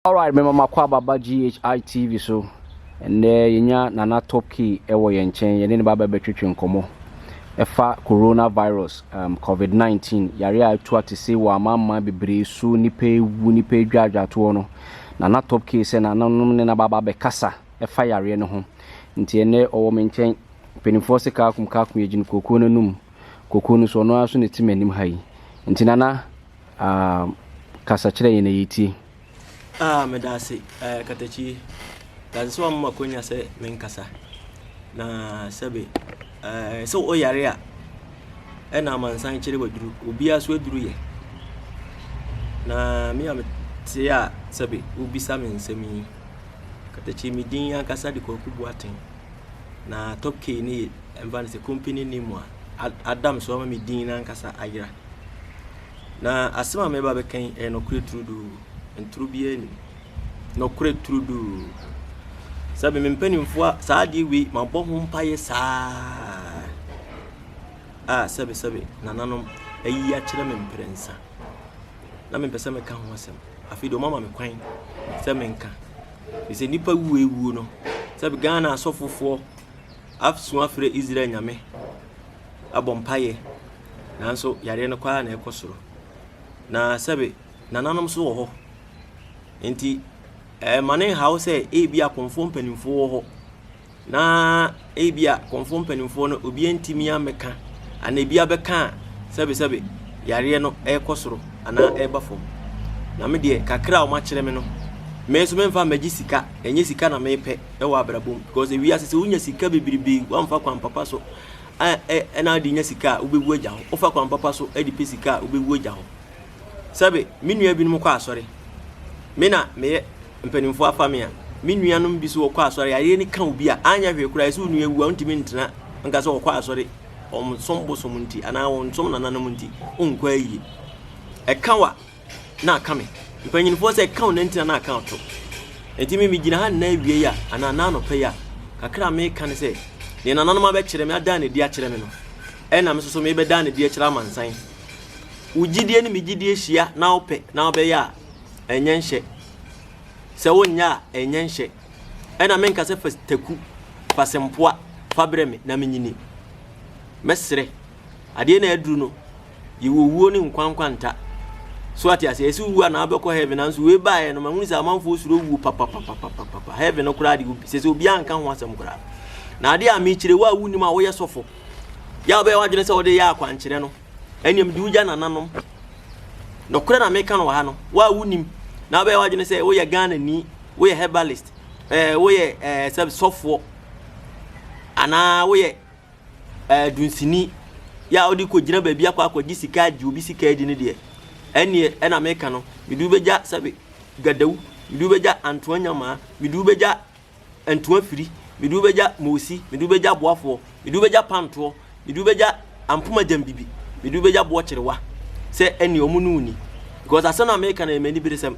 Alright, mema makɔ ababa GHI TV so. Ɛnɛ yɛnya Nana Top Key ɛwɔ yɛn nkyɛn, yɛne ne baba bɛtwetwe nkɔmmɔ ɛfa coronavirus, um, COVID-19, yare a atu atese wɔ amanaman bebree so, nipa ewu, nipa adwaadwatoɔ no. Nana Top Key sɛ nananom ne na baba bɛkasa. ɛfa yareɛ no ho nti ɛnɛ ɔwɔ me nkyɛn mpanimfoɔ se kaakum kaakum yɛ gyina kookoo no anum kookoo no so ɔno ara so na ɛte m'anim ha yi nti nana uh, kasa kyerɛ yɛn na yɛtie ah, meda ase uh, eh, katakyi dade sɛ wamoma kɔnya sɛ menkasa na sɛbe uh, sɛ woyare a ɛna amansan kyerɛ waduru obiara so aduru yɛ na me a mete a sɛbe wobisa me nsɛm yi Katakye me din ankasa de Kwaku Boateng, na Top K ne yɛ ɛmfa no sɛ company name a ada me so ama me din ankasa ayera. Na asɛm a mɛba bɛka yi ɛyɛ nɔkorɛ turuduu, ntoro biara nim. Nɔkorɛ turuduu. Sɛbi me mpanimfoɔ a saa adeɛ wei mabɔ ho mpaeɛ saa a sɛbi sɛbi nananom ayi akyerɛ me mprɛnsa. na mempɛ sɛ meka ho asɛm. Afei deɛ wɔama me kwan sɛ menka. Ɛfiri sɛ nnipa wuo awuo no, sɛ Ghana asɔfofoɔ asu afrɛ Israel nyame abɔ mpaeɛ, nanso yareɛ no kwaa na ɛkɔ soro. Na sɛbe nananom so wɔ hɔ. Nti ɛma ne nhaw sɛ ebi akɔmfoɔ mpanimfoɔ wɔ hɔ. Na ebia kɔmfoɔ mpanimfoɔ no obiara ntumi ammɛka anaa ebi abɛka a sɛbesɛbe yareɛ no rekɔ soro anaa ɛreba fam. Na me deɛ kakra a wɔakyerɛ me no, me nso memfa mmɛgye sika, ɛnyɛ sika na mepɛ wɔ abrabɔ mu because ewiase sɛ wonya sika bebrebe woamfa kwan papa so a ɛ ɛna wode nya sika a wobɛwu agya hɔ, wofa kwan papa so de pɛ sika a wobɛwu agya hɔ. Sɛbe me nua binom kɔ asɔre, me na meyɛ Mpanimfoɔ afa me a, me nuanom bi so wɔkɔ asɔre, yareɛ no ka obi a, anyɛ hwee koraa, ɛsɛ onua wu a, ɔntumi ntena nka sɛ ɔkɔ asɔre, ɔnsom bosom nti, anaa ɔnsom nananom nti, ɔnkɔ ayie. Ɛka wa na aka me. Mpanyinfoɔ sɛ ɛka wo na ntina na aka ato. Nti me megyina ha nna awie yi a, anaa nna anɔpa yi a, kakra a meka ne sɛ, deɛ nananom abɛkyerɛ me, adaa n'adi akyerɛ me no, ɛna me soso mebɛdaa n'adi akyerɛ amansan. Wo gyidie ne me gyidie hyia na wopɛ na wobɛyɛ a, ɛnyɛ nhyɛ. Sɛ wonyɛ a, ɛnyɛ nhyɛ. Ɛna menka sɛ fa taku, fa sempoa, fa brɛ me na menyini. Mɛsrɛ. Adeɛ na aduru no, yɛwɔ owuo ne nkwa nkwanta. So ate aseɛ? Ɛsɛ wowu anaa wobɛkɔ heaven nanso wei baeɛ no mahunu sɛ amanfoɔ suro owuo papapapapapa. Heaven no koraa de obi sɛ sɛ obiara nka ho asɛm koraa. Na adeɛ a mekyerɛ wo a wonim a woyɛ sɔfo, yɛ a wobɛyɛ w'adwene sɛ wode yɛ akwankyerɛ no, ɛnneɛ mede wo gya nananom. Nokorɛ na meka no wɔ ha no, wo a wonim na wobɛyɛ w'adwene sɛ woyɛ Ghanani, woyɛ herbalist, ɛɛ eh, woyɛ ɛɛ eh, sɛ sɔfoɔ anaa woyɛ ɛɛ eh, dunsini yɛ a wode kɔgyina baabi akɔ akɔgye sika agye obi sika adi no deɛ ɛnneɛ ɛna meka no mede wobɛgya sɛbe gadawu mede wobɛgya antoa nyamaa mede wobɛgya ntoa firi, mede wo bɛgya moosi, mede wo bɛgya aboafoɔ, mede wo bɛgya pantoɔ, mede wo bɛgya ampoma gyambibi, mede wo bɛgya boɔ kyerewa, sɛ ɛnneɛ wɔn ne wo nni. Because asɛm no a meka no yɛ m'aniberesɛm.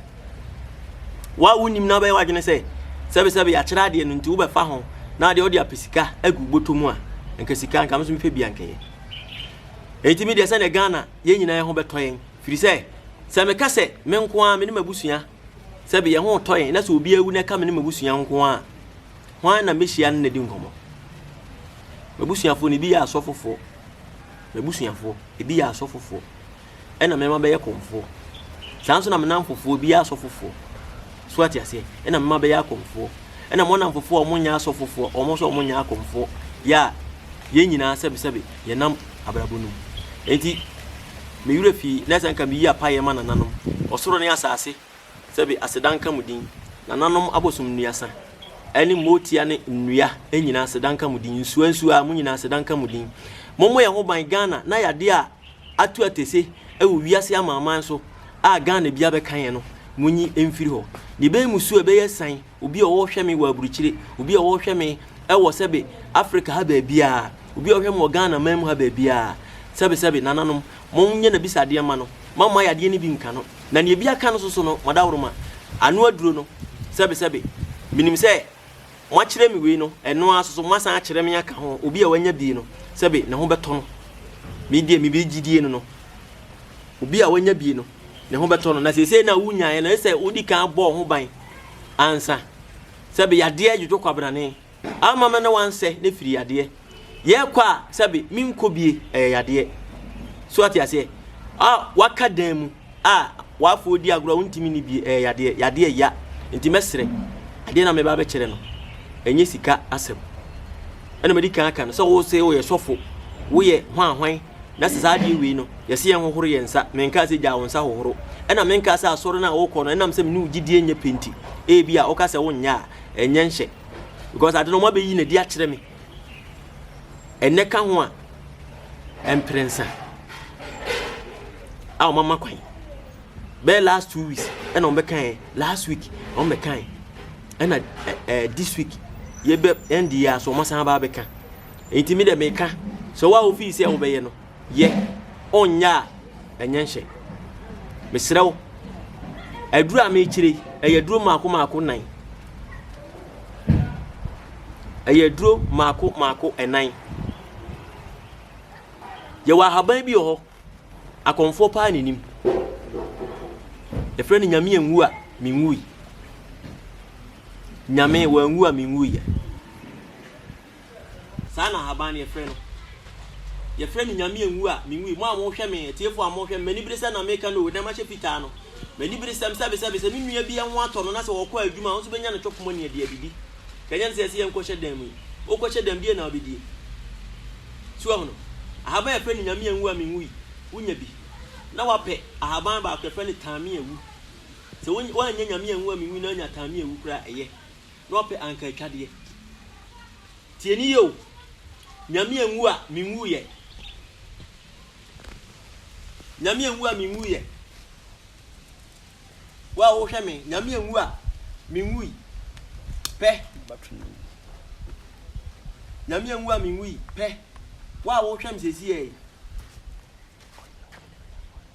Wo a wonim na wobɛyɛ w'adwene sɛ sɛbesɛbe yɛakyerɛ adeɛ no nti wobɛfa ho na adeɛ wode apɛ sika agu bɔtɔ mu a, nka sika nka me so mepɛ bi ankɛyɛ. Ɛnti me deɛ sɛdeɛ Ghana yɛn nyinaa ho bɛtɔ yɛn, firi sɛ sɛ meka sɛ me nko ara me ne m'abusua Sɛ bi yɛn ho retɔ yɛn na sɛ obi awu na ɛka me ne m'abusua nko a, hwan na mehyia no na di nkɔmmɔ? M'abusuafoɔ no ebi yɛ asɔfofoɔ. M'abusuafoɔ ebi yɛ asɔfofoɔ. Ɛna mmarima bɛyɛ kɔmfoɔ. Saa nso na me namfofoɔ ebi yɛ asɔfofoɔ. So ate aseɛ? Ɛna mmarima bɛyɛ akɔmfoɔ. Ɛna mo namfofoɔ a wɔn nyɛ asɔfofoɔ, wɔn nso wɔn nyɛ akɔmfoɔ. Yɛ a yɛn nyinaa sɛbesɛbe yɛnam abrabɔ no mu. Enti Me werɛ fii, na sɛ anka meyi apaeɛ ma nananom, ɔsoro ne asase, sɛbe, aseda nka mo din, nananom abosom nnuasa, ɛne mootia ne nnua nyina aseda nka mo din, nsua nsua mo nyina aseda nka mo din. Mommɔ yɛn ho ban, Ghana na yadeɛ a atu atese wɔ wiase amanaman so a Ghana bia bɛka yɛn no, monyi mfiri hɔ. Ne bɛn mu su ɛbɛyɛ san. Obi a ɔhwɛ me wɔ aburukyire, obi a ɔhwɛ me wɔ sɛbe Africa ha baabiara, obi a ɔhwɛ me wɔ Ghana man mu ha baabiara, sɛbe sɛbe nananom, monyɛ n'abisadeɛ mma no, moamma ayɛ adeɛ no bi nka no, na deɛ bi aka no soso no, moadaworoma, ano aduro no, sɛbe sɛbe, menim sɛ moakyerɛ me wei no, ɛno ara soso moasan akyerɛ me aka ho, obi a wanya bi no, sɛbe ne ho bɛtɔ no, me deɛ mebɛgyidie no no, obi a wanya bi no. Ne ho bɛtɔ no, na seesei na wunyaeɛ no, ɛsɛ sɛ wodi kan bɔ wo ho ban ansa. Sɛbe yadeɛ dwodwo kwabrane, amma me ne wansɛ ne firi yadeɛ. Yɛkɔ a, sɛbe menkɔ bie, ɛyɛ yadeɛ. So ate aseɛ? A, waka dan mu, a, wafo odi agorɔ, wontumi ni bie, ɛyɛ yadeɛ. Yadeɛ ya. Nti mɛsrɛ, adeɛ na meba bɛkyerɛ no, ɛnyɛ sika asɛm. Ɛna madi kan aka no sɛ wo se woyɛ sɔfo, woyɛ hwan hwan. Na sɛ saa adeɛ wei no, yɛse yɛn hohoro yɛn nsa, menkaa sɛ gyaa wo nsa hohoro, ɛna menkaa sɛ asɔre no a wokɔ no, ɛnam sɛ mene wo gyidie nyɛ pɛ nti, ebi a woka sɛ wonyɛ a, ɛnyɛ nhyɛ. Because ade no wɔabɛyi no adi akyerɛ me. Ɛnɛ ka ho a, mprɛnsa a wɔama kwan. Bɛyɛ last two weeks, ɛna wɔbɛkae, last week, wɔbɛkae, ɛna eh, eh, this week, yɛbɛ ɛnde yɛ aso wɔasan aba abɛka. Enti me dɛ meka sɛ wo a wofii sɛ wobɛyɛ no, yɛ, ɔnyɛ a ɛnyɛ nhyɛ. Mesrɛ wo, aduru a mekyerɛ yi, ɛyɛ aduro mmaako mmaako nan. Ɛyɛ aduro mmaako mmaako nan. Yɛwɔ ahaban bi wɔ hɔ, akɔmfoɔ paa na nim. Yɛfrɛ no nyame anwu a menwui. Nyame wanwu a menwuiɛ. Saa na ahaban no yɛfrɛ no. Yɛfrɛ no Nyame anwu a, menwui. Mo a mohwɛ me, atiefo a mohwɛ me, m'aniberesɛm na meka no o, na mahyɛ fitaa no. M'aniberesɛm, sɛbesɛbe, sɛ me nua bi ho atɔ no na sɛ ɔkɔ adwuma a, ɔnso bɛnya ne chop money de adidi. Ka nya no sɛ yɛse yɛnkɔhyɛ dan mu yi, wokɔhyɛ dan mu deɛn na wobɛdie? So woahu no? Ahaban a yɛfrɛ no Nyame anwu a, menwui. Wonya bi. Na woapɛ ahaban baako, yɛfrɛ no Taame awu. Sɛ woannya Nyame anwu a, menwui na woanya Taame awu koraa a, ɛyɛ. na ɔpɛ anka atwadeɛ. Tie ne yie o, Nyame anwu a menwuiɛ. Nyame anwu a menwuiɛ. Wo a wohwɛ me, Nyame anwu a menwui. Pɛ. Nyame anwu a menwui. Pɛ. Wo a wohwɛ me sɛsi yɛ yi.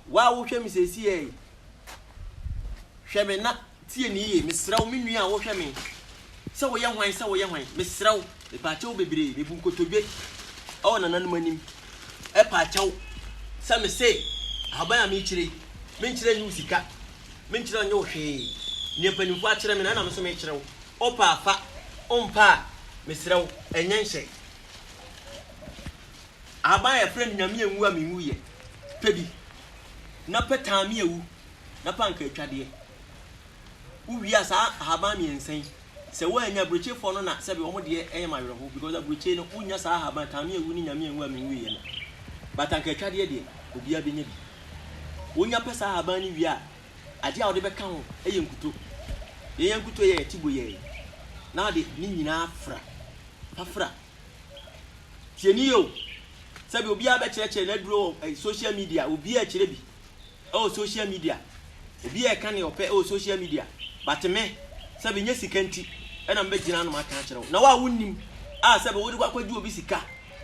Wo a wohwɛ me sɛsi yɛ yi. Hwɛ me na Tie me yie, mesrɛ wo, me nua a wohwɛ me sɛ woyɛ hwan sɛ woyɛ hwan, mesrɛ wo, mepaakyɛ wo bebree, mebu nkotodwe wɔ nananom anim paakyɛ wo sɛ mese ahaban a merekyire yi, menkyerɛ nnye wo sika, menkyerɛ nnye wo hwee, nea mpanimfoɔ akyerɛ me no ɛna me nso mekyerɛ wo, wopɛ a fa, wompɛ a mesrɛ wo, ɛnyɛ nhyɛ. Ahaban a yɛfrɛ no Nyame anwu a menwuiɛ, pɛ bi, na pɛ taa me awu. na pa anka atwadeɛ. Wowie a saa ahaban mmiɛnsa yi, sɛ woannya aburokyefoɔ no na sɛbi wɔn deɛ ɛyɛ ma awerɛho because aburokyie no wonnya saa ahaban kame awu ne nyame anwu a menwuiɛ no. But anka atwadeɛ deɛ obiara bɛnya bi. Wonya pɛ saa ahaban no wie a, adeɛ a wode bɛka ho yɛ nkuto. Yɛn yɛn nkuto yɛ yɛte boyɛɛ na wode ne nyinaa fra. Fa fra. Tieni o, sɛbi obiara bɛkyerɛkyerɛ n'aduro wɔ social media, obiara kyerɛ bi. ɛwɔ social media obiaa ɛka neɛ ɔpɛ ɛwɔ social media but me sɛ bɛ nyɛ sika nti ɛna me bɛ gyina ano maka akyerɛ wo na wo a wo nnim a sɛ bɛ wo de kɔ akɔ gye obi sika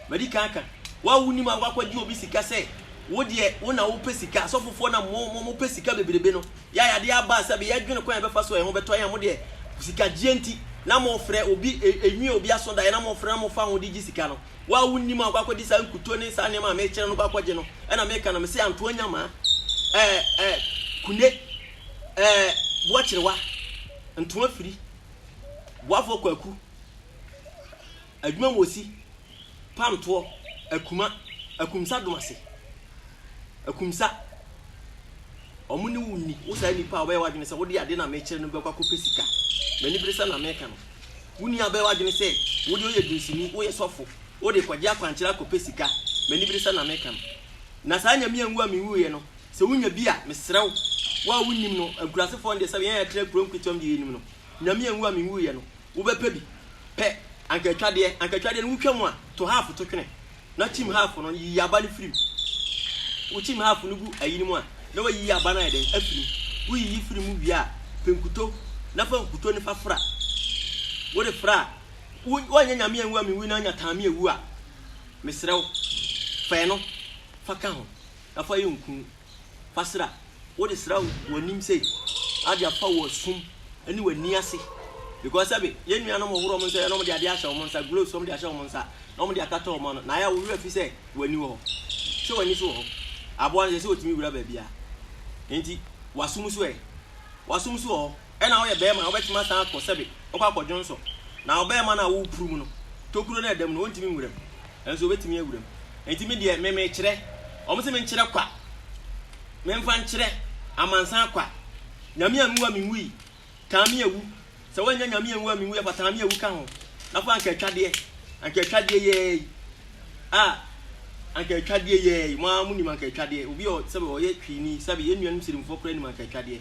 madi kan aka wo a wo nim a wo akɔ gye obi sika sɛ wo deɛ wo na wo pɛ sika asɔfofoɔ na mo mo mo pɛ sika bebrebe no yɛ a yadeɛ aba a sɛ bɛ yɛ dwene kwan yɛ bɛ fa so ɛho bɛ tɔ yɛ mo deɛ sika gyeɛ nti na mo frɛ obi ɛnwie obi aso daeɛ na mo frɛ na mo fa ho de gye sika no. Wo a wunnim a wokɔ akɔgye saa nkutoo ne saa nneɛma a merekyerɛ no kɔ akɔgye no, ɛna meka na mese antoa nyamaa, ɛɛ, ɛɛ, kune, ɛɛ, boakyerewa, ntoa firi, boafoɔ kwaku, adwuma mu osi, pamtoɔ, akuma, akumsa domase, akumsa, wɔn ne wo nni, wo saa nipa a wobɛyɛ w'adwene sɛ wode adeɛ no a merekyerɛ no bɛkɔ akɔpɛ sika. M'anibere sɛ na meka no. Wo nua bɛyɛ w'adwene sɛ wo deɛ woyɛ dunsini, woyɛ sɔfo, wode rekɔgye akwankyerɛ akɔpɛ sika, m'aniberesɛm na mereka no. Na saa Nyame anwu a menwuiɛ no, sɛ wonya bi a, mesrɛ wo, wo a wonnim no, nkurasefoɔ no deɛ sɛdeɛ yɛn a yɛtena kuro nketewa mu deɛ yɛnim no, Nyame anwu a menwuiɛ no, wobɛpɛ bi, pɛ, anka atwadeɛ, anka atwadeɛ no wotwa mu a, to half to twene. na kyim half no yiyi aba no firi mu. Wokyim half no gu ayi no mu a, na wayiyi aba no ayɛ dɛn? Afiri mu. Woyiyi firi mu wie a, pɛ nkuto na fa nkuto no fa fra. Wode fra a, woanyɛ nyame anwu a mewu na anya taame awu a, mesrɛ wo, fa ɛno fa ka ho na fa yɛ nku. Kwasera, wode sra wo w'anim sei ade afa wo asum ne w'ani ase because sɛbe yɛn nuanom hohoro wɔn nsa yɛ na wɔn de ade ahyɛ wɔn nsa gloves wɔn de ahyɛ wɔn nsa na wɔn de akata wɔn ano na ayɛ a wo werɛ afi sɛ w'ani wɔ hɔ sɛ w'ani so wɔ hɔ aboa no sɛ sɛ otumi wura baabi a nti w'asom so ɛ w'asom so wɔ hɔ. Ɛna woyɛ bɛɛma a wobɛtumi asan akɔ sɛbe wokɔ akɔ dwonsɔ na ɔbɛɛma no a wopuru mu no tokuro no a ɛdam no ɔntumi nwura mu nanso ɔbɛtumi awura mu ɛnti me deɛ me mekyerɛ ɔmo se menkyerɛ kwa memfa nkyerɛ amansan kwa nyame anwu a menwu yi taa me awu sɛ woanya nyame anwu a menwu yɛ fa taa me awu ka ho na fa anka atwadeɛ anka atwadeɛ yɛɛ yi a anka atwadeɛ yɛɛ yi mo a mo nim anka atwadeɛ obi ɔ sɛbe ɔyɛ twini sɛbe yɛn nuanom sirimfoɔ koraa nim anka atwadeɛ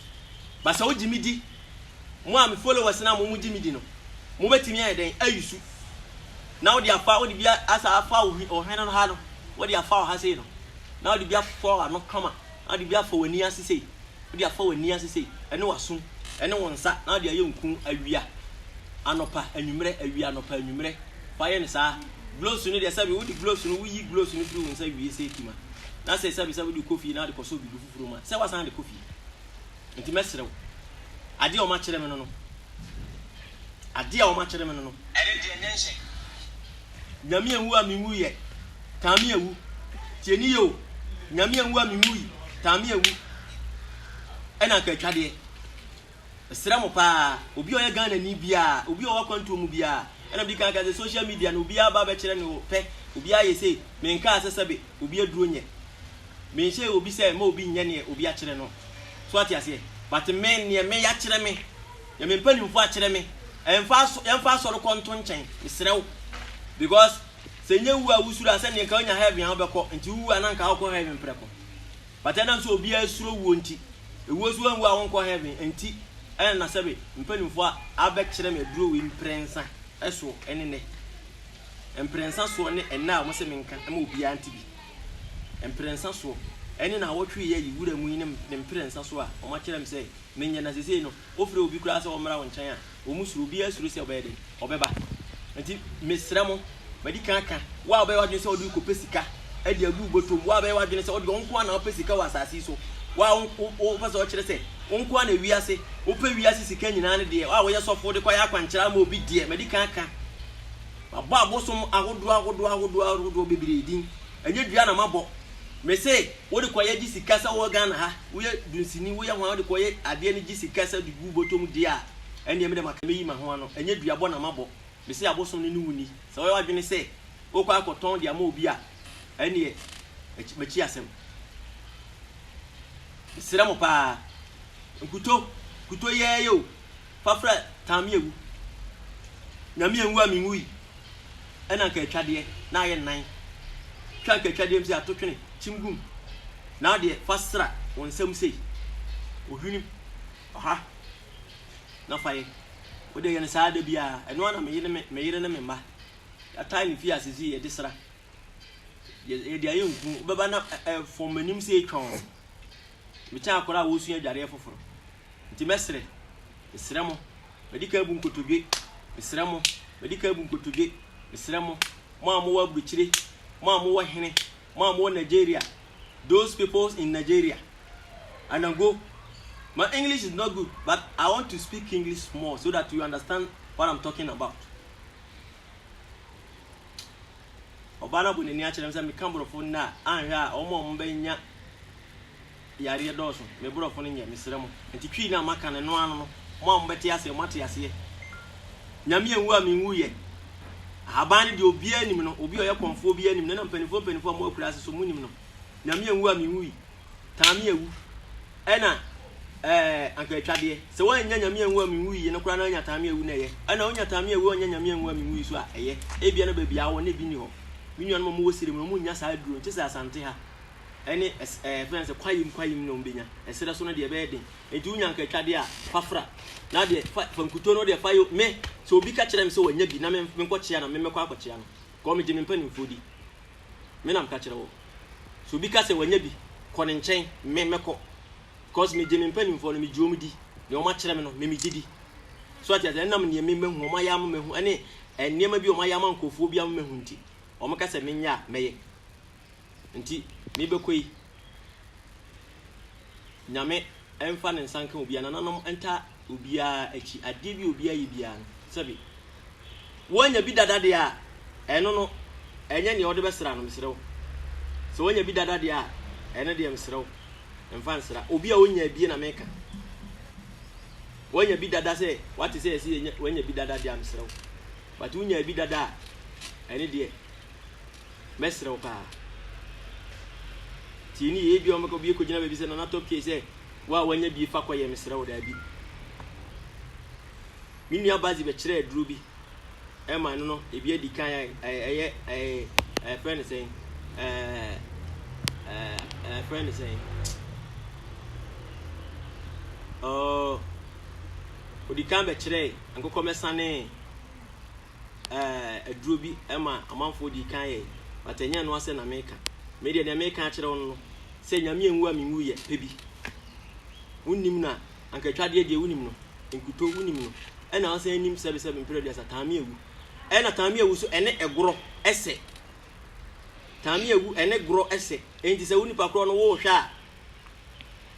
But sɛ wogye me di, mo a me followers no a mo mo gye me di no, mo bɛtumi ayɛ dɛn? Ayi su na wode afa, wode bi asa afa wo hwene no ha no, wode afa wo ha sei no, na wode bi afa w'ano kama, na wode bi afa w'ani ase sei, wode afa w'ani ase sei, ɛne w'asom, ɛne wo nsa, na wode ayɛ nku awia, anɔpa, anwummerɛ, awia, anɔpa, anwummerɛ. Fa yɛ no saa. Gloves no deɛ sɛbi wode gloves no, woyi gloves no firi wo nsa wie sei kima. Na sɛ sɛbi sɛ wode kɔ fie na wode kɔsɔ obi do. Kuruma, sɛ woasan de kɔ fie. Enti mɛsrɛ wo, adeɛ a wɔakyerɛ me no no, adeɛ a wɔakyerɛ me no no. Ɛne deɛ ɛnyɛ nhyɛ. Nyame anwu a menwuiɛ, taa me awu. Tie ne yie o, Nyame anwu a menwui, taa me awu. Ɛna anka atwadeɛ. Mesrɛ mo paa, obi a ɔyɛ Ghanani biara, obi a ɔwɔ akwantuo mu biara, ɛna medi kan aka sɛ social media no obiara ba bɛkyerɛ ne pɛ, obiara yɛ sei, menkaa sɛ sɛbe obi aduro nyɛ, menhyɛɛ obi sɛ mma obi nyɛ neɛ obi akyerɛ no, so wate aseɛ, but me neɛ meyɛ akyerɛ me, neɛ me mpanimfoɔ akyerɛ me, ɛmfa aso, yɛmfa asɔre kɔ nto nkyɛn, mesrɛ wo, because sɛ nyɛ wu a wosuro a sɛdeɛ nka wonya heaven a wobɛkɔ, nti wowu a na nka wokɔ heaven prɛko. But ɛnam sɛ obiara suro wuo nti, ewuo so wanwu a wonkɔ heaven nti ɛna na sɛbe mpaninfoɔ a abɛkyerɛ me aduro wei mprensa soɔ ɛne nɛ mprensa soɔ ne ɛnɛ a wɔse menka ma obiara nte bi mprensa soɔ ɛne na awɔtwe yi ayi wura mu yi ne mprensa soɔ a wɔakyerɛ me sɛ menyɛ na sesei no wofrɛ obi koraa sɛ ɔmmra wo nkyɛn a Wɔn suro, obiara suro sɛ ɔbɛyɛ dɛn, ɔbɛba. Nti mesrɛ mo, madi kan aka, wo a wobɛyɛ w'adwene sɛ wode rekɔpɛ sika de agu wo bɔtɔm, wo a wobɛyɛ w'adwene sɛ wode wo nko ara na wopɛ sika wɔ asase yi so, wo a wopɛ sɛ wokyerɛ sɛ wo nko ara na wiase, wopɛ wiase sika nyinaa no deɛ, wo a woyɛ sɔfo de kɔyɛ akwankyerɛ ama obi deɛ, madi kan aka. Mabɔ abosom ahodoɔ ahodoɔ ahodoɔ ahodoɔ bebree din. Ɛnyɛ dua na mabɔ. Mese wode kɔyɛ gye sika sɛ wowɔ Ghana ha. woyɛ dunsini, woyɛ hwan wode kɔyɛ adeɛ no gye sika sɛ de gu bɔtɔ mu deɛ a, ɛnneɛ me deɛ maka mɛyi ma ho ano, ɛnyɛ dua bɔ na mabɔ, mese abosom no ne wo nni, sɛ woyɛ w'adwene sɛ wokɔ akɔ tɔn de ama obi a, ɛnneɛ makyi asɛm. Mesrɛ mo paa, nkutoo, nkutoo yɛɛyɛ o, fa frɛ Taame awu. Nyame anwu a menwui ɛna anka atwadeɛ na ayɛ nnan. Twa anka atwadeɛ mpo sɛ ato twene kyim gum. Na wo deɛ fa sra wo nsam sei. Ohwenem ɔha na fa yɛ. Wo deɛ yɛ no saa da biara. Ɛno ara na me yere me yere ne me mma yɛatae no fie ha seesei yɛde sra. Yɛ yɛde ayɛ nku. Wobɛba na ɛ ɛ fɔm m'anim sei twɔnn. Mekyɛn akwadaa a wɔresua adwareɛ foforo. Nti mɛsrɛ, mesrɛ mo, madi kan abu nkotodwe, mesrɛ mo, madi kan abu nkotodwe, mesrɛ mo, mo a mowɔ aburukyire, mo a mowɔ hene, mo a mowɔ Nigeria, those peoples in Nigeria, Anango, my English is not good but I want to speak English small so that you understand what I'm talking about. Ɔbaa no abɔ n'ani akyerɛ m sɛ meka borɔfo nnɛ a anhwɛ a wɔn a wɔbɛnya Yareɛ dɔɔso me brɔfo no nyɛ mesrɛ mo nti twii no a maka no ɛno ano no mo a mobɛte aseɛ moate aseɛ Nyame anwu a menwuiɛ Ahaban no deɛ obiara nim no obi a ɔyɛ kɔmfoɔ obiara nim no na mpanifoɔ mpanifoɔ a mo akura ase so mo nim no Nyame anwu a menwui taa me awu ɛna ɛɛ anka atwadeɛ sɛ wannya Nyame anwu a menwui yi no koraa na anya taa me awu na ɛyɛ ɛna onya taa me awu a ɔnya Nyame anwu a menwui so a ɛyɛ ebia na baabi a awɔ na ebi nni hɔ me nuanom a mowɔ Sirem no monnya saa aduro nkyɛ sɛ Asante ha ɛne ɛs ɛɛ yɛfrɛ no sɛ kwayim kwayim na wɔbɛnya ɛserɛ so no deɛ ɛbɛyɛ den nti wonya nkatwadeɛ a fa fra na deɛ fa fa nkuto no deɛ fa yɛ me sɛ obi ka kyerɛ me sɛ wanya bi na me menkɔkyea na me mɛkɔ akɔkyea no kɔɔ megye me mpanimfoɔ di me nam ka kyerɛ wɔ sɛ obi ka sɛ wanya bi kɔ ne nkyɛn me mɛkɔ kɔs megye me mpanimfoɔ no megye wɔn di deɛ wɔn akyerɛ me no me megye di so ati ase ɛnam nneɛma mɛhu wɔn ayɛ ama mɛhu ɛne nneɛma bi wɔn ayɛ ama nkurɔfoɔ bi ama mɛhu nti wɔn ka sɛ menyɛ a mɛyɛ Nti mebɛkɔ yi, Nyame ɛmfa ne nsa nka obiara, nananom nta obiara akyi, adeɛ bi obiara yɛ biara no, sɛbi woanya bi dada deɛ a, ɛno no, ɛnyɛ neɛ wode bɛsra no, mesrɛ wo. Sɛ woanya bi dada deɛ a, ɛno deɛ mesrɛ wo, mfa nsra. Obi a ɔnya bie na meka. Woanya bi dada sɛ, wate sɛ ɛsɛ woanya bi dada deɛ a, mesrɛ wo. But wonya bi dada a, ɛne deɛ, Mɛsrɛ wo paa, tie no yie. Ebia wɔbɛka obi kɔgyina baabi sɛ, Nana Top K sɛ, wo a woanya bie fa kɔyɛ, mesrɛ wo daabi. Me nua Bazi bɛkyerɛ aduro bi ɛma no no, ebi adi kan a ɛyɛ ɛyɛ ɛfrɛ no sɛn ɛɛ ɛɛ ɛfrɛ no sɛn ɔɔ odi kan bɛkyerɛ nkokɔmɛsane aduro bi ma amanfoɔ dii kan yɛe, but ɛnyɛ ɛno asɛ na meka. Me deɛ deɛ meka akyerɛ wo no no, sɛ Nyame anwu a menwu yɛ pɛ bi. Wonim na anka twadeɛ deɛ wonim no, nkuto wonim no, ɛna ɔsan anim sɛbesɛbe mprɛ aduasa taame awu. Ɛna taame awu so ɛne ɛgorɔ ɛsɛ. Taame awu ɛne gorɔ ɛsɛ. Enti sɛ wo nipa korɔ no wohwɛ a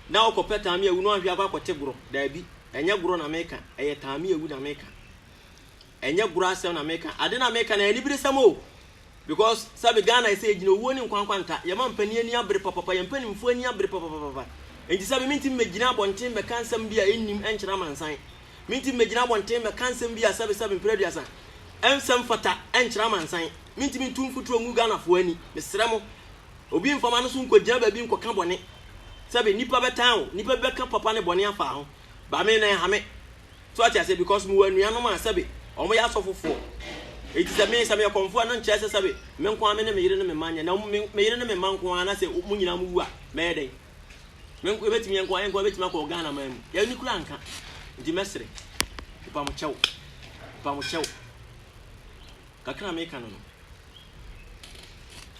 na wokɔpɛ taame awu no anhwɛ akɔ akɔte gorɔ. Daabi, ɛnyɛ gorɔ na meka, ɛyɛ taame awu na meka. ɛnyɛ goro asɛm na meka ade na meka na anibere sɛm o because sɛbe Ghana ɛsɛ yɛgyina owuo ne nkwa nkwa nta yɛma mpanin ani abere papapa yɛn mpanimfoɔ ani abere papapapa nti sɛbe mentimi mɛgyina abɔnten mɛka nsɛm bi a ɛnnim ɛnkyerɛ amansan mentimi mɛgyina abɔnten mɛka nsɛm bi a sɛbe sɛbe mprɛduasa ɛnsɛm fata ɛnkyerɛ amansan mentimi ntu mfuturo ngu Ghanafoɔ ani mesrɛ mo obi mfama no so nkɔgyina baabi nkɔka bɔne sɛbe nipa bɛtan o nipa bɛka papa ne bɔne afa ho ba me na ɛha me So wate aseɛ? Because mewɔ anuanom a sɛbe wɔyɛ asɔfofoɔ. Enti sɛ me, sɛ meyɛ kɔmfoɔ a, na nkyerɛ sɛ sɛbe me nko ara me ne me yere ne me mma nyɛ. Na me, me yere ne me mma nko ara, na sɛ wɔn nyinaa wɔwu a, mɛyɛ dɛn? Me nko, yɛbɛtumi, yɛn nko ara, yɛn nko ara bɛtumi akɔ Ghana man mu. Yɛn ani koraa nka. Enti mɛsere. Mepa mo kyɛw. Mepa mo kyɛw. Kakra a meka no no.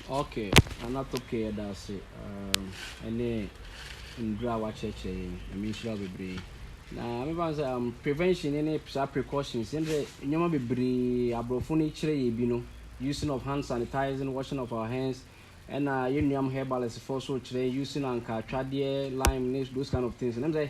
Ok, Nana Toke yɛda ase um, ɛne ndura a wakyerɛkyerɛ yɛn ɛmi nhyira wo bebree na mefa sɛ um, prevention ne saa precautions ne dɛ nneɛma bebree aborɔfo no kyerɛ yɛ bi no using of hand sanitizing washing of our hands ɛna yɛn nuam herbalist foɔ so kyerɛ using anka atwadeɛ lime ne those kind of things ne sɛ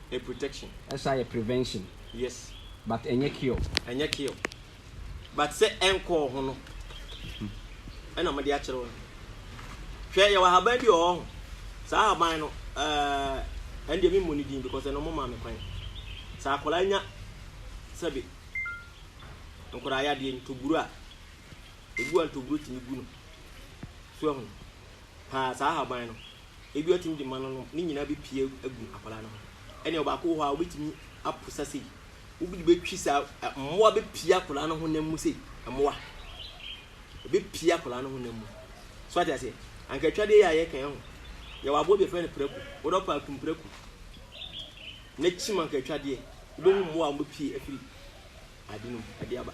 A protection. Ɛsan yɛ prevention. Yes. But ɛnyɛ cure. Ɛnyɛ cure. But sɛ ɛnkɔɔ ho no, ɛna wɔde akyerɛ wo no. Hwɛ, yɛwɔ ahaban bi wɔ hɔ ho. Saa ahaban no, ɛɛ, ɛndeɛ memmɔ ne din because ɛno momaa me kwan. Sɛ akwadaa nya sɛbe nkwadaa yadeɛ ntoburo a, ebu a ntoburo tumi gu no. So ɛho. paa saa ahaban no ebi ɔtumi de ma no nom ne nyinaa bepie agu akwadaa no ho ɛnna ɔbaako wɔ hɔ a wobɛtumi apo sa sei wobɛde bɛtwi saa mmoa bɛpie akwadaa no honam mu sei mmoa ɛbɛpie akwadaa no honam mu so ate aseɛ anka atwadeɛ yɛ a yɛka ho yɛwɔ aboa bi ɛfrɛ no prako wodɔ paa kum prako na kyim anka atwadeɛ wobɛhu mmoa a wɔbɛpie afiri ade no mu de aba.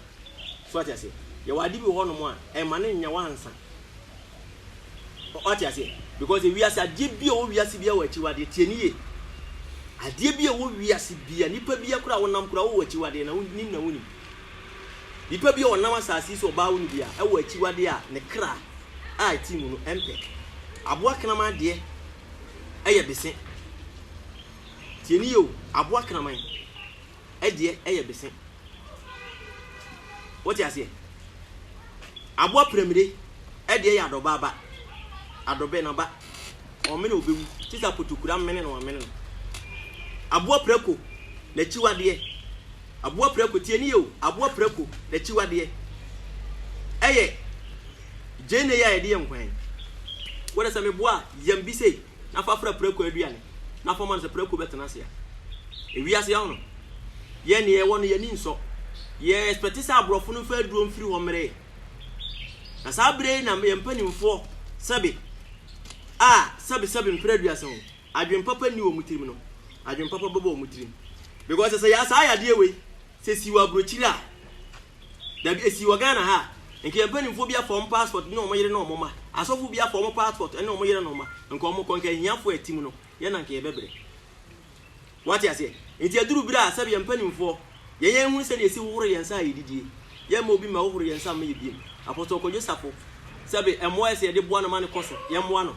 So wate aseɛ? Yɛwɔ ade bi wɔ hɔnom a, ɛmma no nyɛ wansa. Wate aseɛ? Because ewiase adeɛ bi a ɛwɔ wiase bi a wɔ akyiwadeɛ tie ne yie. Adeɛ bi a ɛwɔ wiase bi a nipa bi akora a wɔnam kora wɔ akyiwadeɛ na wonim na wonim. Nipa bi a ɔnam asase yi so ɔbaa wo no bi a ɛwɔ akyiwadeɛ a ne kra a ɛte mu no ɛmpɛ. Aboa kraman adeɛ ɛyɛ bese. Tie ne yie o, aboa kraman. deɛ ɛyɛ bese. Wote aseɛ? Aboa piramire deɛ yɛ adɔba aba, adɔbɛ n'aba. Ɔmene ɔbɛwu te sɛ apotokuro amene na wamene no. Aboa prako n'akyiwadeɛ, aboa prako tie ne yɛ o, aboa prako n'akyiwadeɛ ɛyɛ gyeene yi a yɛde yɛ nkwan. Wode sɛ meboa a, yam bi sei. na fa fra prako aduane na fa ma no sɛ prako bɛtena ase a. Ewiase ahɔ no, yɛn deɛ yɛwɔ no yɛn ani nsɔ. Yɛ expect sɛ aborɔfo no mfa aduro mfiri hɔ mmrɛ yɛn. Na saa berɛ yi na yɛn mpanimfoɔ sɛbe a sɛbe sɛbe mpere aduasa ho adwene papa nni wɔn tirim no adwene papa bɛbɔ wɔn tirim. Because sɛ saa yadeɛ wei sɛ si wɔ aburokyire a Dabi, esii wɔ Ghana ha. Nka yɛn mpanimfoɔ bi afa wɔn passport ne wɔn yere ne wɔn mma. Asɔfo bi afa wɔn passport ne wɔn yere ne wɔn mma. Nka wɔkɔ, nka ahiafoɔ a ɛtim no, yɛn na nka yɛbɛbrɛ. Woate aseɛ? Enti aduru berɛ a, sɛbe yɛn mpanimfoɔ, yɛn yɛn hunu sɛdeɛ yɛsi hohoro yɛn nsa a yɛdidie. Yɛmma obi mma hohoro yɛn nsa mma yɛn biom. Apostle Kojo Sarfo, sɛbe mmoa a ɛsɛ yɛde boa no ma no kɔ so, yɛmmoa no.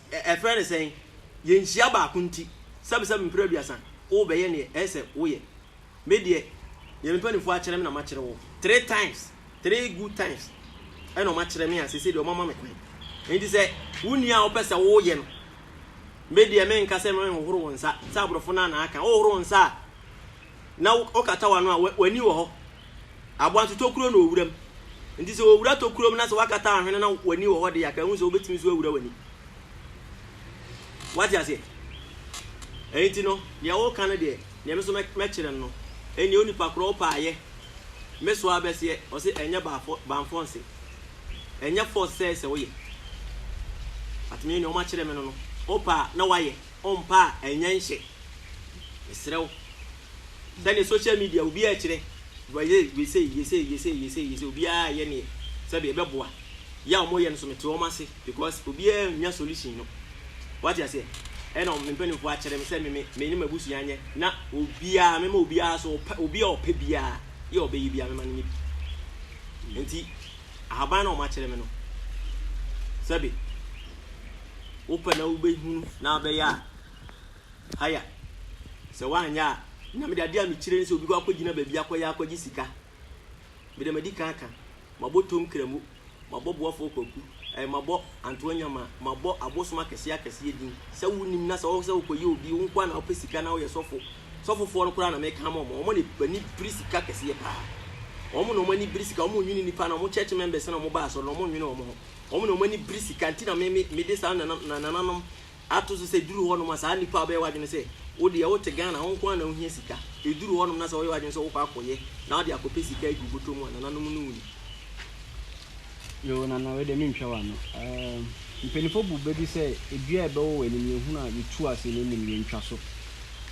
Ɛ ɛfrɛ no sɛn? Yɛn nhyia baako nti, sɛbesɛbe mpre aduasa, wo bɛyɛ neɛ ɛyɛ sɛ wo yɛ. Me deɛ, neɛ me mpaninfoɔ akyerɛ me na makyerɛ wo. Three times, three good times ɛna wɔn akyerɛ me a seisei deɛ wɔn ama me kwan. Nti sɛ wo nni a wo pɛ sɛ wo yɛ no, me deɛ me nka sɛ me hohoro wo nsa, sɛ aborɔfo no a na aka, wo hohoro wo nsa a, na wo kata w'ano a, w'ani wɔ hɔ, Aboa nso, tokuro na ɔwura mu. Nti sɛ ɔwura tokuro mu na sɛ woakata ahwene na w'ani wɔ hɔ deɛ a, ka ɛhu sɛ wobɛtumi nso awura w'ani. Woate aseɛ? Ɛyi nti no, deɛ woka no deɛ, deɛ me nso mɛkyerɛ no no, ɛnneɛ onipa korɔ wo pɛ a yɛ. Me so ara bɛseɛ, ɔse ɛnyɛ bamfɔnse. Ɛnyɛ force sɛ sɛ woyɛ. But me deɛ wɔakyerɛ me no no, wopɛ a na woayɛ, wompɛ a ɛnyɛ nhyɛ. Mesrɛ wo. Sɛdeɛ social media obiara rekyerɛ, wesei, yesei, yesei, yesei, yesei, obiara reyɛ neɛ sɛdeɛ ɛbɛboa. Yɛ a wɔyɛ no nso mete wɔn ase because obiara nnya solution no. Wate aseɛ? Ɛna me mpanimfoɔ akyerɛ me sɛ me me me ne m'abusua nyɛ na obiara mema obiara so ɔpɛ obi a ɔpɛ biara yɛ a ɔbɛyɛ biara mema no nyɛ bi. Nti ahaban na wɔakyerɛ me no sɛbe wopɛ na wobɛhunu na abɛyɛ a Aya, sɛ woanyɛ a, na mede adeɛ a mekyerɛ ne sɛ obi kɔ akɔgyina baabi akɔyɛ akɔgye sika. Mede madi kan aka, mabɔ Tom Kramo, mabɔ Boafoɔ Kwaku, ɛɛ, mabɔ Antoa Nyama, mabɔ abosom akɛseɛ akɛseɛ din. Sɛ wonim na sɛ wo sɛ wokɔyɛ obi, wo nkoa na wopɛ sika na woyɛ sɔfo. Sɔfofoɔ no koraa na meka ama wɔn, wɔn na ani bere sika kɛseɛ paa. Wɔn na wɔn ani bere sika, wɔn nnwene nnipa na wɔn church members na wɔn ba asɔre no, wɔn nnwene wɔn ho. Wɔn na wɔn ani bere sika, nti na me, me, mede saa nana, nananom Ato so sɛ ɛduru hɔnom a saa nnipa a wobɛyɛ w'adwene sɛ wo deɛ wote Ghana wo nko ara na wohia sika, ɛduru hɔnom na sɛ woyɛ w'adwene sɛ wokɔ akɔyɛ na wode akɔpɛ sika agu wo bɔtɔ mu a nananom no wuni. Yoo nana wei deɛ mentwa w'ano ehm mpaninfoɔ bu bɛ bi sɛ dua a ɛbɛwɔ w'anim yɛ hunu a yɛ tu ase na ɛnim yɛ ntwa so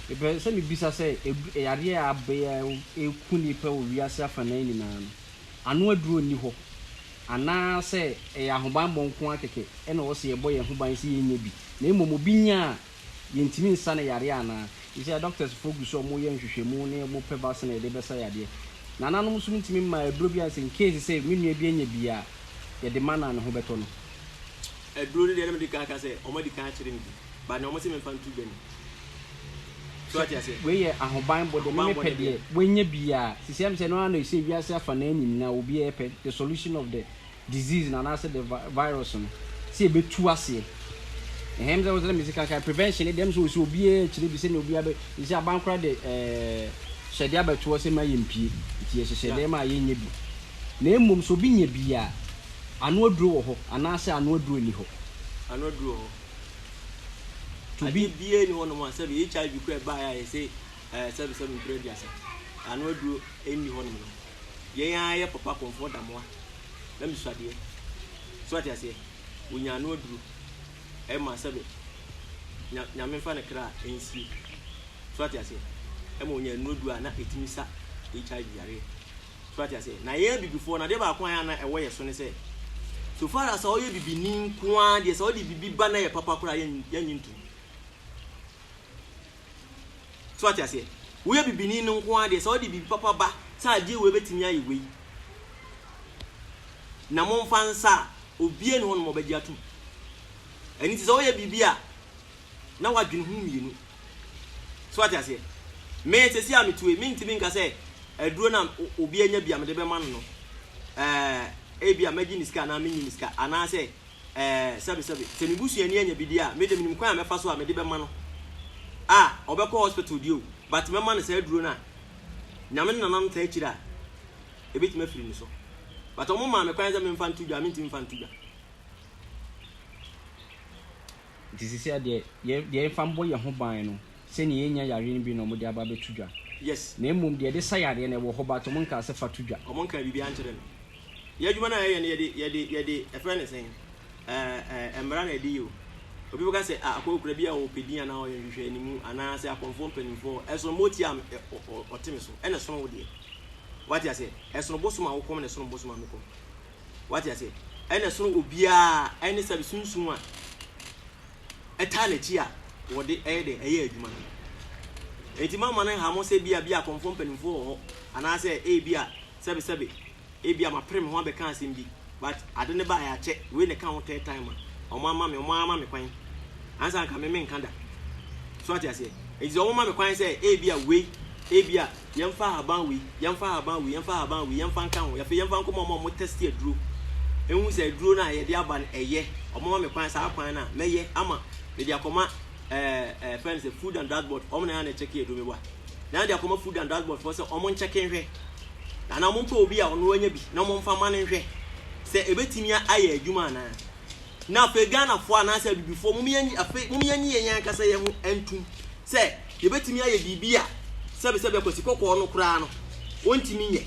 mepɛ sɛ me bisa sɛ ɛdu ɛyadeɛ a abɛɛ a ɛku nnipa wɔ wiase afanaa nyinaa no ano aduro nni hɔ anaa sɛ ɛyɛ ahobanmmɔ nko ara kɛkɛ na ɛwɔ sɛ yɛbɔ yɛn ho ban sɛ yɛnnya bi, na mmom obi nya a, yɛntumi nsa no yareɛ anaa? Seesei adɔktɛs foɔ gu so wɔyɛ nhwehwɛmu na wɔn pɛ vaccine a yɛde bɛsa yadeɛ. Nananom nso ntumi mma aduro biara sɛ in case sɛ me nua bi anya bi a, yɛde ma no a ne ho bɛtɔ no. Aduro no deɛ na mede kan aka sɛ wɔn adi kan akyere me bi, but na wɔn se memfa nto dwa ni. So ate aseɛ? Wei yɛ ahobanbɔ deɛ meme pɛ deɛ wanya biaa sisi ɛm sɛ ɛno ara na ɛsɛ wiase afanaa nyinaa obiaa ɛpɛ the solution of the disease no anaasɛ the virus no sɛ ɛbɛtu aseɛ ɛhɛm sɛ wosɛ mesi kankan prevention no deɛ ɛm sɛ ɔsɛ obiaa ɛkyerɛ bi sɛnea obiaa bɛ ɛsɛ aban kora de ɛɛ hyɛdeɛ abɛtoɔ sɛ ma yɛ mpie nti yɛ hyehyɛ dɛm a yɛnyɛ bi na mmom sɛ obi nya biaa ano aduro wɔ hɔ anaasɛ ano aduro nni hɔ ano aduro wɔ hɔ. to be. Adeɛ biara ni hɔnom a sɛbi HIV kura ɛbaa yɛ a yɛsɛ ɛɛ sɛbi sɛbi mpere aduasa ano aduro ɛnni hɔnom no yɛn ara yɛ papa kɔnfoɔ damoa na mi suadeɛ so ate aseɛ wonya ano aduro ɛma sɛbi nya nyame nfa ne kra ɛnsie so ate aseɛ ɛma wonya ano aduro a na ɛtumi sa HIV yareɛ. So wate aseɛ? Na yɛn abibifoɔ no, adeɛ baako a na ɛwɔ yɛn so ne sɛ, so far as sɛ ɔyɛ bibini nko ara deɛ, sɛ ɔde biribi ba na ɛyɛ papa koraa a, yɛnnye ntom. So wate aseɛ? Woyɛ bibini no nko ara deɛ, sɛ ɔde biribi papa ba sɛ adeɛ wei bɛtumi ayɛ wei, na momfa nsa a, obiara nni hɔ nom a ɔbɛgye atom. Ɛno nti sɛ woyɛ biribi a, na woadwene ho mmienu. So wate aseɛ? Me, seesei a metue, mentumi nka sɛ aduro no a obi anya bi a mede bɛma no no, ɛɛ, ebia mɛgye ne sika anaa mennye ne sika, anaasɛ, ɛɛ, sɛbesɛbe. Sɛ me busuani anya bi deɛ a, me deɛ menim kwan a mɛfa so a mede bɛma no. A, ɔbɛkɔ hospital deɛ o, but mɛma no saa aduro no a Nyame ne Nananom taa kyiri a ɛbɛtumi afiri ne so. But wɔmaa me kwan sɛ memfa nto dwa a, mentumi mfa nto dwa. Nti sesea deɛ yɛ deɛ yɛfa mbɔ yɛn ho ban no sɛ neɛ yɛnya yareɛ no bi na ɔmo de aba abɛto dwa Yes. na mmom deɛ yɛde sa yareɛ no ɛwɔ hɔ but ɔmo nkaa sɛ fa to dwa. Ɔmo nkaa biribiara nkyerɛ me. Yɛ adwuma no a yɛyɛ no yɛde yɛde yɛde ɛfrɛ no sɛn ɛɛ mmara na ɛde yɛ o. Obi bɛka sɛ a akɔ okura bi a ɔpɛ din anaa ɔyɛ nhwehwɛanimu anaa sɛ akɔmfoɔ mpaninfoɔ ɛsono mo ɔtia a ɛ ɔ ɔ ɔte me so ɛna ɛsono wo deɛ. Wate aseɛ? Ɛsono bosom a wo kɔm na ɛsono bosom a me kɔm. Wate aseɛ? Ɛna ɛsono obiara, ɛne sɛbe sunsum a ɛtaa n'akyi a wɔde ɛyɛ dɛn ɛyɛ adwuma no. Enti ma mma no nha mo sɛ bi a bi a kɔmfoɔ mpanimfoɔ wɔ hɔ anaasɛ ebi a sɛbe sɛbe ebi a mapere me ho abɛka asɛm bi but ade no baeɛ akyɛ wei na ɛka ho third time a wɔn ama me wɔn ara ma me kwan ansa anka me menka da. So ate aseɛ? Enti sɛ wɔma me kwan sɛ ebi a wei ebi a Yɛmfa ahaban wei, yɛmfa ahaban wei, yɛmfa ahaban wei, yɛmfa nka ho. Afei yɛmfa nkɔma wɔn a wɔtɛste aduro nhu sɛ aduro no a yɛde aba no, ɛyɛ. Wɔma me kwan, saa kwan no a, mɛyɛ ama mede akɔma ɛɛ ɛɛ ɛfrɛ no sɛ Food and Drug Board, wɔn na ɛyɛ a na ɛkyɛke aduro. Meboa na de akɔma Food and Drug Board foɔ sɛ wɔnkyɛke nhwɛ anaa wɔmpɛ obi a ɔno wanya bi na wɔmfa mma no nhwɛ sɛ ɛbɛtumi ayɛ adwuma anaa. Na afei Ghanafoɔ anaasɛ Abibifoɔ, mom yɛn, afei mom yɛn nye yɛn ankasa yɛn ho ntum sɛ yɛbɛtumi ayɛ biribi a sɛbesɛbea Kwasi Kɔkɔɔ no koraa no ɔntumi nyɛ.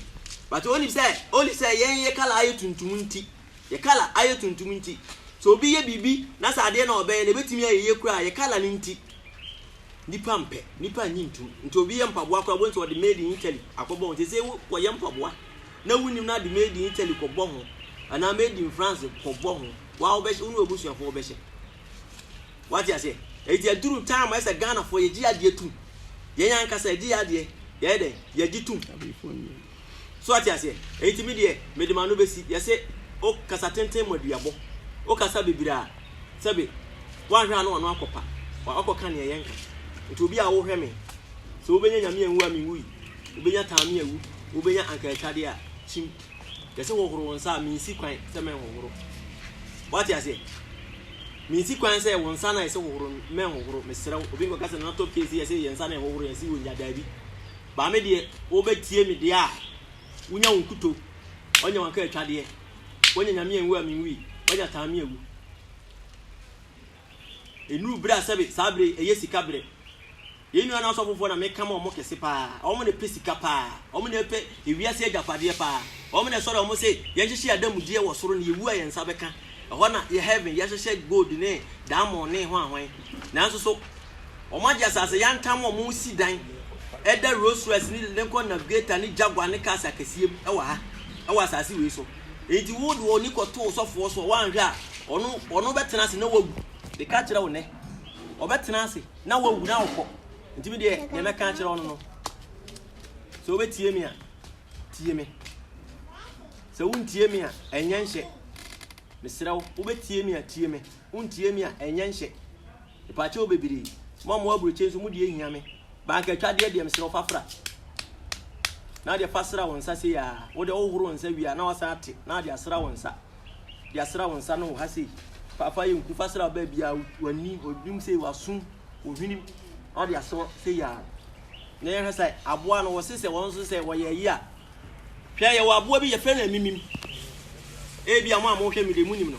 But ɔnim sɛ, only sɛ yɛn yɛ colour ayɛ tuntum nti, yɛ colour ayɛ tuntum nti. Sɛ obi yɛ biribi na sɛ adeɛ na ɔbɛyɛ no ɛbɛtumi ayɛ yie koraa a, yɛ colour no nti. Nnipa mpɛ, nnipa nnye ntum. Nti obi yɛ mpaboa koraa a, wobɛhu sɛ ɔde made in Italy akɔbɔ ho. Seesei wokɔyɛ mpaboa. na wonnim no ade made in Italy kɔbɔ ho anaa made in France kɔbɔ ho wa wobɛhyɛ wo ne w'abusuafoɔ wobɛhyɛ wate aseɛ ɛti aduru time a ɛsɛ Ghanafoɔ yɛgye yɛ adeɛ tum yɛn ankasa yɛgye yɛ adeɛ yɛyɛ dɛn yɛgye tum so wate aseɛ ɛti me deɛ mede ma no bɛsi yɛse wokasa tenten mu aduabɔ wokasa bebree a sɛbe woanhwɛ a na ɔno akɔpa, wakɔka nea yɛnka. Nti obi a wohwɛ me, sɛ wobɛnya Nyame anwu a menwui, wobɛnya taa me awu, wobɛnya anka atwadeɛ a, kyim. Yɛse hohoro wo nsa a, mensi kwan sɛ mɛnhohoro. Woate aseɛ? Mensi kwan sɛ wo nsa no a yɛse hohoro no, mɛnhohoro. Mesrɛ wo, obi nkɔka sɛ Nana Top K se yɛse yɛn nsa na yɛhohoro yɛn se ɔnya, daabi. Baa me deɛ, wobɛtie me deɛ a, wonya wo nkutoo, ɔnya wo anka atwadeɛ. Wanya Nyame anwu a menwui, wanya taa me awu. Enuru bere a sɛbe saa bere yi ɛyɛ sika bere. Yɛn nuanom asɔfofoɔ na meka ma wɔn kɛse paa. Wɔn na ɛpɛ sika paa. Wɔn na ɛpɛ ewiase agyapadeɛ paa. Wɔn na ɛsɔre a wɔn se yɛnhyehyɛ yɛn adamudeɛ wɔ soro na yɛwu a yɛn nsa bɛka. Ɛhɔ na yɛ heaven yɛhyehyɛ gold ne diamond ne hwan hwan. Nanso so Wɔagye asase yantam a wɔresi dan da Rolls-Royce ne Lincoln Navigator ne Jaguar ne cars akɛseɛ mu wɔ ha, wɔ asase wei so. Enti wo de w'ani kɔto wo sɔfoɔ so a, woanhwɛ a, ɔno, ɔno bɛtena ase na wawu. Meka kyerɛ wo nnɛ, ɔbɛtena ase na wawu na wokɔ. Nti me deɛ, deɛ mɛka akyerɛ wo no no, sɛ wobɛtie me a, tie me. Sɛ wontie me a, ɛnyɛ nhyɛ. Mesrɛ wo, wobɛtie me a, tie me. Wontie me a, ɛnyɛ nhyɛ. Mpakyɛw bebree. Mo a mowɔ aburokyɛ nso mo deɛ hia me. Bankatwadeɛ deɛ mesrɛ wo fa fra. Na wode fa sra wo nsa sei aa. Wo deɛ wohoro wo nsa wie a na wasan ate na wode asra wo nsa. De asra wo nsa no wɔ ha sei. Fa fa yɛ nku fa sra baabi a w'ani, w'anim sei, w'aso, wo hwenem na wode asra sei aa. Na yɛhwɛ sɛ aboa no wɔse sɛ wɔn nso sɛ wɔyɛ ayi a Hwɛ, yɛwɔ aboa bi, yɛfrɛ no amimim. Ebia mo a mohwɛ me de, munim no.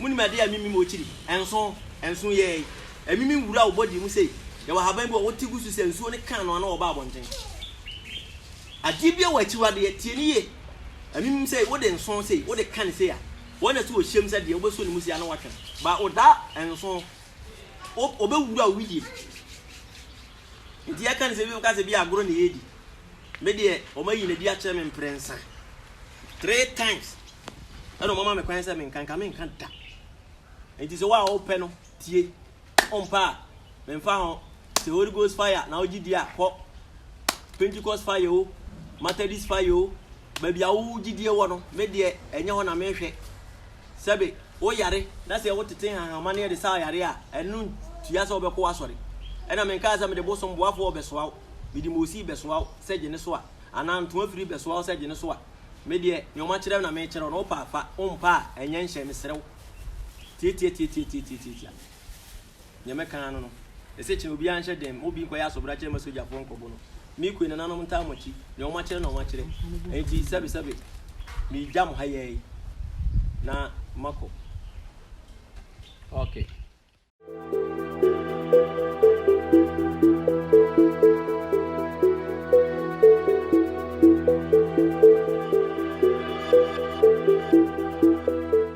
Munim ade a amimim wɔ kyiri? Ɛnsõ, ɛnsõ yɛɛ. Amimim wura wo body mu sei. Yɛwɔ ahaban bi wɔ hɔ, wote gu so sɛ nsuo no kaa no ano a ɔba abɔnten. Adeɛ bi wɔ akyiwadeɛ, tie no yie. Amimim sei, wode nsõ sei, wode ka no sei a, wɔn na sɛ wɔhyem sɛ deɛ, wobɛsɔ ne mu sei a na watwe no. Ba, ɔda nsõ. Ɔ, ɔbɛwura wo wedeɛ mu. Nti yɛka no sɛ ebinom ka sɛ bi agorɔ na yɛredi. Me deɛ wɔayi no adi akyerɛ me mprɛnsa. Three times ɛna wɔama me kwan sɛ menka nka menka da. Nti sɛ wo a wopɛ no tie. Wompɛ a memfa ho. Sɛ Holy Ghost fire na wogye di a kɔ. Pentecost fire o, Methodist fire o, baabi a wo gyidie wɔ no, me deɛ ɛnyɛ hɔ na mehwɛ. Sɛ be wo yare na sɛ wo tete nhanhanma no yɛ de saa yare a, ɛno ntua sɛ wo bɛkɔ w'asɔre. Ɛna me nkaa sɛ me de bosom boafoɔ wɔ bɛsoa wo, me de moosi bɛsoa wo sɛ gye ne so a, anaa ntoa firi bɛsoa wo sɛ gye ne so a. Me deɛ nea wɔn akyerɛ me na meekyerɛ wo na wo pɛ a fa, wo mpɛ a ɛnyɛ nhyɛ, meserɛ wo. Tiatiatiatiatiatiatiatia. Nea mɛka ara no no, ɛsɛ kyena obiara nhyɛ den ma obi nkɔyɛ asobrakyɛ mma sogyafoɔ nkɔbɔ no. Me kue nananom ntaa mo akyi, nea wɔakyerɛ na wɔakyerɛ. Enti sɛbesɛbe megya mo ha yi ara yi na makɔ. Okay.